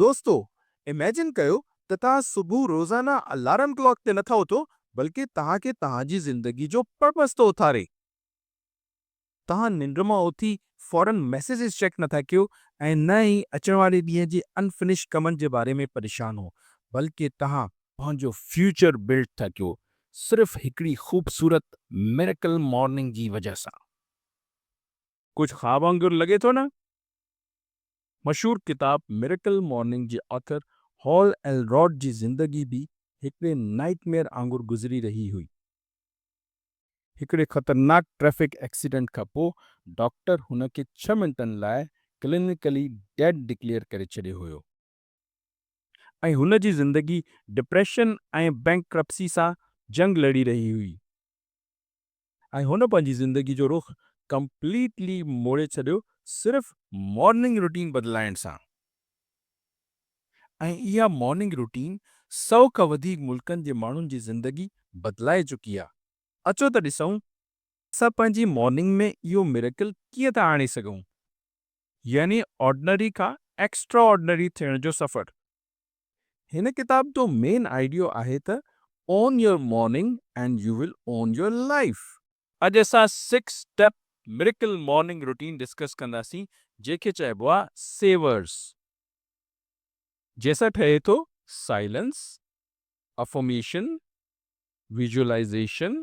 دوستو اميجن ڪيو ته توهان صبح روزانه الارم ڪلاڪ تي نٿا اٿو بلڪه توهان کي توهان جي زندگي جو پرپس ٿو اٿاري. توهان ننڊ مان اٿي فورن ميسيجز چيڪ نٿا ڪيو ۽ نه ئي اچڻ واري ڏينهن جي ان فنش ڪمن جي باري ۾ پريشان هو بلڪه توهان پنهنجو فيوچر بلڊ ٿا ڪيو صرف هڪڙي خوبصورت ميريڪل مارننگ جي وجه سان. ڪجهه خواب وانگر لڳي ٿو نه؟ مشهور ڪتاب ميريڪل مارننگ جي آٿر هال ايلروڊ جي زندگي به هڪڙي نائيٽ ميئر آنگر گذري رهي هئي. هڪڙي خطرناڪ ٽريفڪ ايڪسيڊنٽ کان پوء ڊاڪٽر هن کي ڇهه منٽن لاء ڪلينيڪلي ڊيڊ ڊڪليئر ڪري ڇڏيو هيو. ۽ هن جي زندگي ڊپريشن ۽ بئنڪرپسي سان جنگ لڙي رهي هئي ۽ هن پنهنجي زندگي جو رخ ڪمپليٽلي موڙي ڇڏيو صرف مارننگ روٽين بدلائڻ سان ۽ اها مارننگ روٽين سئو کان وڌيڪ ملڪن جي ماڻهن جي زندگي بدلائي چڪي آهي. اچو ته ڏسون اسان پنهنجي مارننگ ۾ اهو ميريڪل ڪيئن ٿا آڻي سگهون. يعني آرڊنري کان ايڪسٽرا آرڊنري ٿيڻ جو سفر. هن ڪتاب جو مين آئيڊيو آهي ته Own your morning and you will own your life. اڄ اسان six step miracle morning routine discuss ڪنداسين جنهن کي چئبو آهي سيورس. جنهن سان ٺهي ٿو سائلنس، افرميشن، ويزوئلائيزيشن،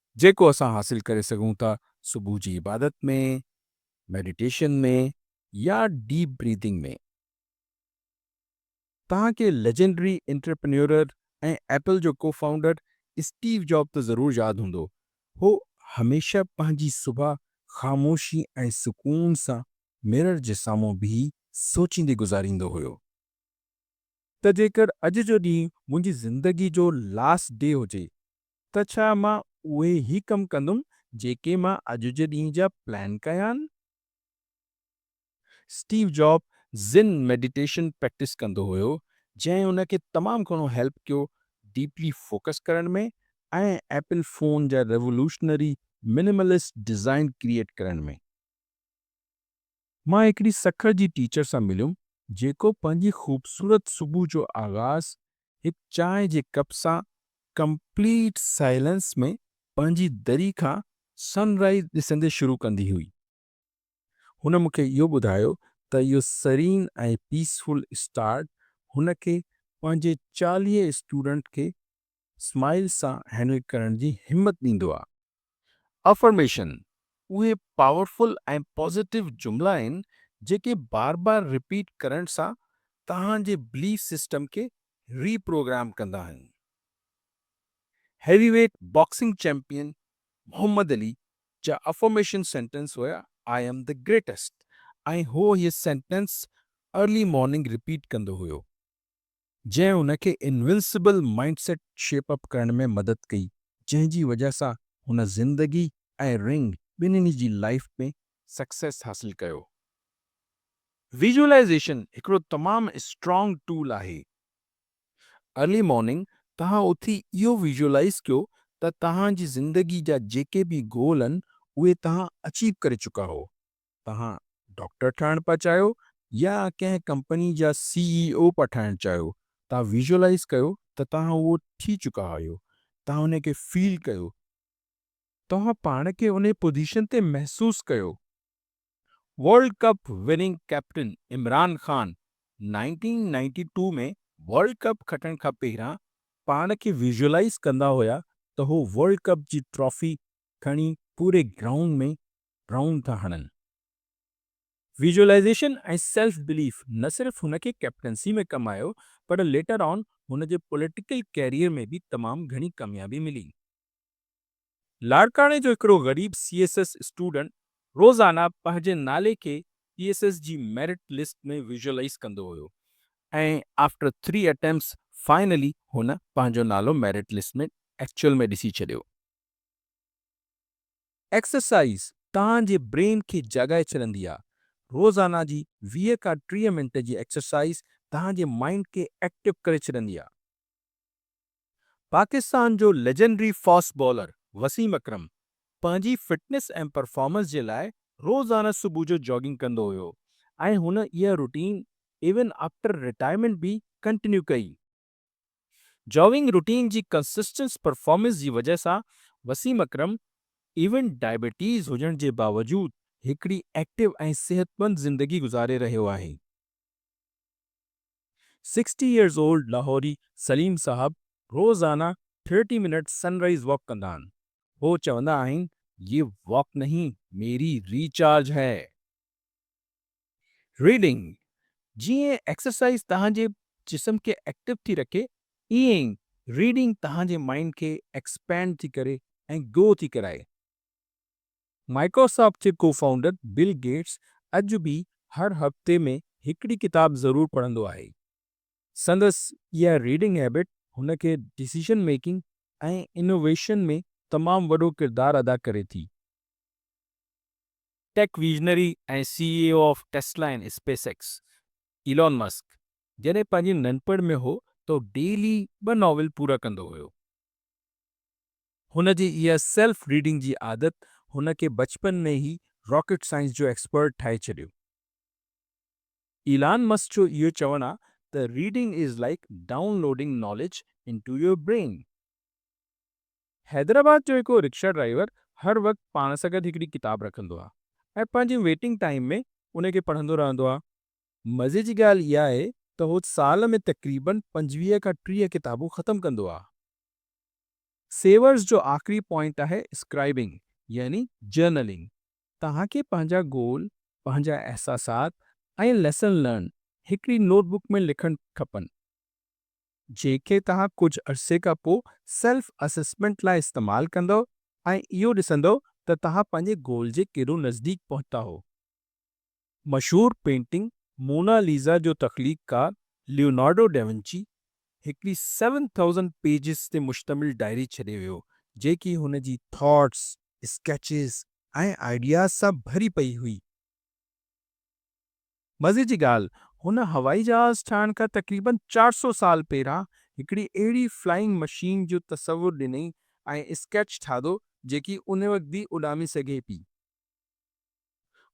جيڪو اسان حاصل ڪري سگهون ٿا صبح جي عبادت ۾، ميڊيٽيشن ۾ يا ڊيپ بريٿنگ ۾. توهان کي ليجنڊري انٽرپرينيورر ۽ ايپل جو ڪو فائونڊر اسٽيو جاب ته ضرور ياد هوندو. هو هميشه پنهنجي صبح خاموشي ۽ سڪون سان ميرر جي سامهون بيهي سوچيندي گذاريندو هيو ته جيڪر اڄ جو ڏينهن منهنجي زندگي جو لاسٽ ڊي هجي ته ڇا مان اهي ئي ڪم ڪندم جيڪي مان اڄ جي ڏينهن جا پلان ڪيا آهن. Steve Jobs Zen meditation practice ڪندو هيو جنهن هن کي تمام گهڻو هيلپ ڪيو ڊيپلي فوڪس ڪرڻ ۾ ۽ ايپل فون جا ريولوشنري منيملسٽ ڊيزائن ڪريئيٽ ڪرڻ ۾. مان هڪڙي سکر جي ٽيچر سان مليم جيڪو پنهنجي خوبصورت صبح جو آغاز هڪ چانهه جي ڪپ سان ڪمپليٽ سائلنس ۾ پنهنجي دري کان سن رائيز ڏسندي شروع ڪندي هئي. هن مون کي اهو ٻڌايو ته اهو سرين ۽ پيسفل اسٽارٽ هن کي پنهنجي چاليهه اسٽوڊنٽ کي اسماعيل سان هينڊل ڪرڻ جي همت ڏيندو آ. افرميشن اهي پاورفل ۽ پازيٽو جملا آهن جيڪي بار بار رپيٽ ڪرڻ سان توهان جي بليف سسٽم کي ري پروگرام ڪندا آهن. Heavyweight boxing champion Muhammad Ali جا افرميشن سينٽنس هيا آء ايم دي گريٽسٽ ۽ هو هي سينٽنس ارلي مارننگ رپيٽ ڪندو هيو. جنهن هن کي invincible mind set shape up ڪرڻ ۾ مدد ڪئي جنهن جي وجهه سان هن زندگي ۽ رنگ ٻنهي جي لائيف ۾ سڪسيس حاصل ڪيو. ويزولائيزيشن هڪڙو تمام اسٽرانگ ٽول آهي. ارلي مارننگ توهان اٿي اهو ويزولائيز ڪيو ته توهان جي زندگي جا جيڪي به گول آهن اهي توهان اچيو ڪري چڪا هو. توهان ڊاڪٽر ٺهڻ پيا چاهيو يا ڪنهن ڪمپني جا سي اي او پيا ٺهڻ چاهيو، توهان ويزولايز ڪيو ته توهان اهو ٿي چڪا آهيو، توهان انهي کي فيل ڪيو، توهان پاڻ کي انهي پوزيشن تي محسوس ڪيو، world cup winning captain Imran Khan nineteen ninety two ۾ world cup کٽڻ کان پهريان پاڻ کي ويزولايز ڪندا هيا ته هو ورلڊ ڪپ جي ٽرافي کڻي پوري گرائونڊ ۾ رائونڊ ٿا هڻن. ويزوئلائيزيشن ۽ سيلف بليف نه صرف هن کي ڪئپٽنسي ۾ ڪم آيو پر ليٽر آن هن جي پوليٽيڪل ڪيريئر ۾ به تمام گهڻي ڪاميابي ملي. لاڙڪاڻي جو هڪڙو غريب سي ايس ايس اسٽوڊنٽ روزانه پنهنجي نالي کي سي ايس ايس جي ميرٽ لسٽ ۾ ويزوئلائيز ڪندو هيو ۽ آفٽر ٿري اٽيمپٽس فائنلي هن پنهنجو نالو ميرٽ لسٽ ۾ ايڪچوئل ۾ ڏسي ڇڏيو. ايڪسرسائيز توهان جي برين کي جاڳائي ڇڏندي آهي. روزانه جي ويهه کان ٽيهه منٽ جي ايڪسرسائيز توهان جي مائينڊ کي ايڪٽو ڪري ڇڏندي آهي. پاڪستان جو legendary fast bowler Wasim Akram پنهنجي فٽنس ۽ پرفارمنس جي لاء روزانه صبح جو جاگنگ ڪندو هيو ۽ هن اها روٽين ايون آفٽر رٽائرمينٽ به ڪنٽينيو ڪئي. جاگنگ روٽين جي ڪنسسٽنس پرفارمنس جي وجهه سان وسيم اڪرم ايون ڊائبيٽيز هجڻ جي باوجود هڪڙي ايڪٽو ۽ صحتمند زندگي گذاري رهيو آهي. Sixty years old Lahori Saleem صاحب روزانه thirty minute sunrise walk ڪندا آهن. هو چوندا آهن، يي واڪ نهين ميري ري چارج هي. Reading، جيئن ايڪسرسائيز توهان جي جسم کي ايڪٽو ٿي رکي ايئن ئي ريڊنگ توهان جي مائينڊ کي ايڪسپينڊ ٿي ڪري ۽ گرو ٿي ڪرائي. مائڪروسافٽ جي ڪو فائونڊر بل گيٽس اڄ به هر هفتي ۾ هڪڙي ڪتاب ضرور پڙهندو آهي. سندس اها ريڊنگ هيبٽ هن کي ڊسيزن ميڪنگ ۽ انوويشن ۾ تمام وڏو ڪردار ادا ڪري ٿي. Tech visionary ۽ C E O of Tesla and SpaceX Elon Musk جڏهن پنهنجي ننڍپڻ ۾ هو ته هو ڊيلي ٻه ناول پورا ڪندو هيو. هن جي اها سيلف ريڊنگ جي عادت هن کي بچپن ۾ ئي راڪيٽ سائنس جو ايڪسپرٽ ٺاهي ڇڏيو. ايلان مسڪ جو اهو چوڻ آهي ته reading is like down loading knowledge into your brain. Hyderabad جو هڪ رڪشا ڊرائيور هر وقت پاڻ سان گڏ هڪڙي ڪتاب رکندو آهي ۽ پنهنجي ويٽنگ ٽائيم ۾ ان کي پڙهندو رهندو آهي. مزي جي ڳالهه اها آهي ته هو سال ۾ تقريباً پنجويهه کان ٽيهه ڪتابون ختم ڪندو آهي. سيورز جو آخري پوائنٽ آهي اسڪرائبنگ يعني جرنلنگ. توهان کي پنهنجا گول، پنهنجا احساسات ۽ ليسن لرنڊ هڪڙي نوٽ بڪ ۾ لکڻ کپن. جنهن کي توهان ڪجهه عرصي کان پوء سيلف اسيسمينٽ لاء استعمال ڪندؤ ۽ اهو ڏسندؤ ته توهان پنهنجي گول جي ڪيڏو نزديڪ پهتا هو. مشهور پينٽنگ مونا ليزا جو تخليقڪار ليونارڊو ڊيونچي هڪڙي سيون ٿائوزنڊ پيجز تي مشتمل ڊائري ڇڏي ويو جيڪي هن جي ٿاٽس، اسڪيچز ۽ آئيڊياز سان ڀري پئي هئي. مزي جي ڳالهه هن هوائي جهاز ٺاهڻ کان تقريباً چار سؤ سال پهران هڪڙي اهڙي فلائنگ مشين جو تصور ڏنئي ۽ اسڪيچ ٺاهدو جيڪي ان وقت به اڏامي سگهي پي.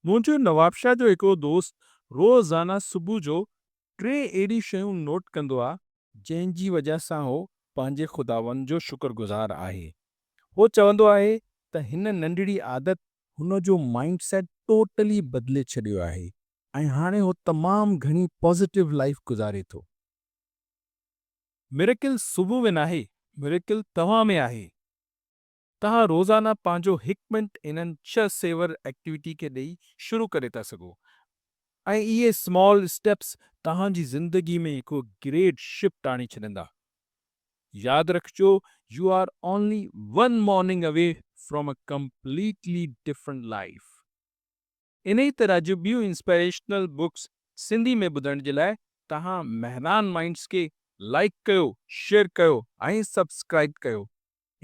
منهنجو نوابشاهه جو هڪڙو دوست روزانه صبح جو ٽي اهڙي شيون نوٽ ڪندو آ، جنهن جي وجهه سان هو پنهنجي خداوند جو شڪر گذار آهي هو چوندو آهي ته هن ننڍڙي عادت هن جو مائنڊ سيٽ ٽوٽلي بدلي ڇڏيو آهي ۽ هاڻي هو تمام گهڻي پازيٽو لائيف گذاري ٿو. ميريڪل صبح ۾ ناهي ميريڪل توهان ۾ آهي. توهان روزانه پنهنجو هڪ منٽ انهن ڇهه سيور ايڪٽيوٽي کي ڏئي شروع ڪري ٿا سگهو ۽ اهي سمال اسٽيپس توهان جي زندگي ۾ هڪ گريٽ شفٽ آڻي ڇڏيندا. ياد رکجو you are only one morning away from a completely different life. انهي طرح جون ٻيون انسپائريشنل بڪس سنڌي ۾ ٻڌڻ جي لاء توهان مهران مائينڊس کي لائيڪ ڪيو، شيئر ڪيو ۽ سبسڪرائيب ڪيو.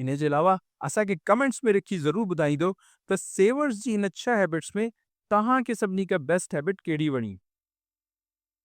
انهي جي علاوه اسان کي ڪمينٽس ۾ لکي ضرور ٻڌائيندو ته سيورس جي هن ڇهه هيبٽس ۾ توهان کي سڀني کان بيسٽ هيبٽ ڪهڙي وڻي.